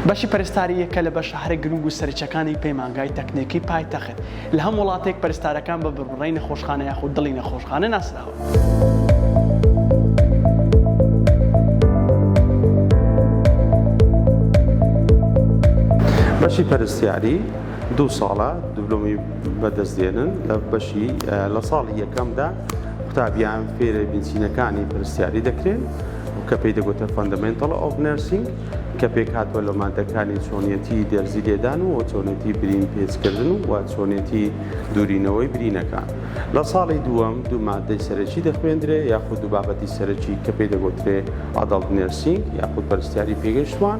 بەشی پەرستاری یەکە لە بەشە هەرە گرنگ و سەرچەکانی پەیمانگای تەکنێکی پایتەخت لە هەم وڵاتێک پەرستارەکان بە بڕبڕی نەخۆشخانە یاخود دڵی نەخۆشخانە ناسراوە. بەشی پەرستیاری دوو ساڵە دبلۆمی بەدەست دێنن لە بەشی لە ساڵی یەکەمدا قوتابیان فێرە بنچینەکانی پرسیاری دەکرێن کە پێی دەگوتە فەندەمنتڵ ئۆف نرسینگ کە پێک هاتووە لە مادەکانی چۆنیەتی دەرزی لێدان و چۆنێتی برین پێچکردن و و چۆنێتی دوورینەوەی برینەکان لە ساڵی دووەم دوو مادەی سەرەکی دەخوێندرێ یاخود دوو بابەتی سەرەکی کە پێی دەگوترێ ئادڵ نرسینگ یاخود پرسیاری پێگەشتوان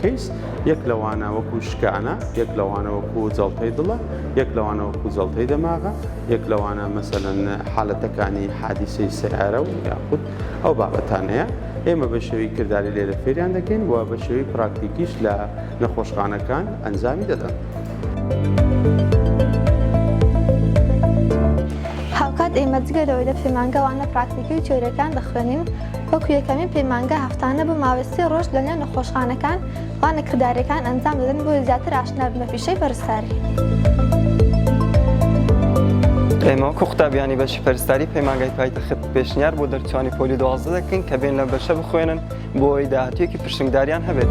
کەیس، یەک لەوانە وەکوو شکانە، یەک لەوانە وەکوو جەڵتەی دڵە، یەک لەوانە وەکوو جەڵتەی دەماغە، یەک لەوانە مەسەلەن حالەتەکانی حادیسەی سەیارە و یاخود ئەو بابەتانەیە ئێمە بە شێوەی کرداری لێرە فێریان دەکەین و بە شێوەی پراکتیکیش لە نەخۆشخانەکان ئەنجامی دەدەن. هاوکات ئێمە جگە لەوەی لە پەیمانگە وانە پراکتیکی و تیۆرییەکان دەخوێنین، وەکو یەکەمین پەیمانگا هەفتانە بۆ ماوەی سێ ڕۆژ لە نێو نەخۆشخانەکان وانە کرداریەکان ئەنجام دەدەن بۆ زیاتر ئاشنا بن بە پیشەی پەرستاری. ئێمە وەکو قوتابیانی بەشی پەرستاری پەیمانگای پایتەخت پێشنیار بۆ دەرچوانی پۆلی دوازدە دەکەین کە بێن لە بەشە بخوێنن بۆ ئەوەی داهاتوێکی پرشنگداریان هەبێت.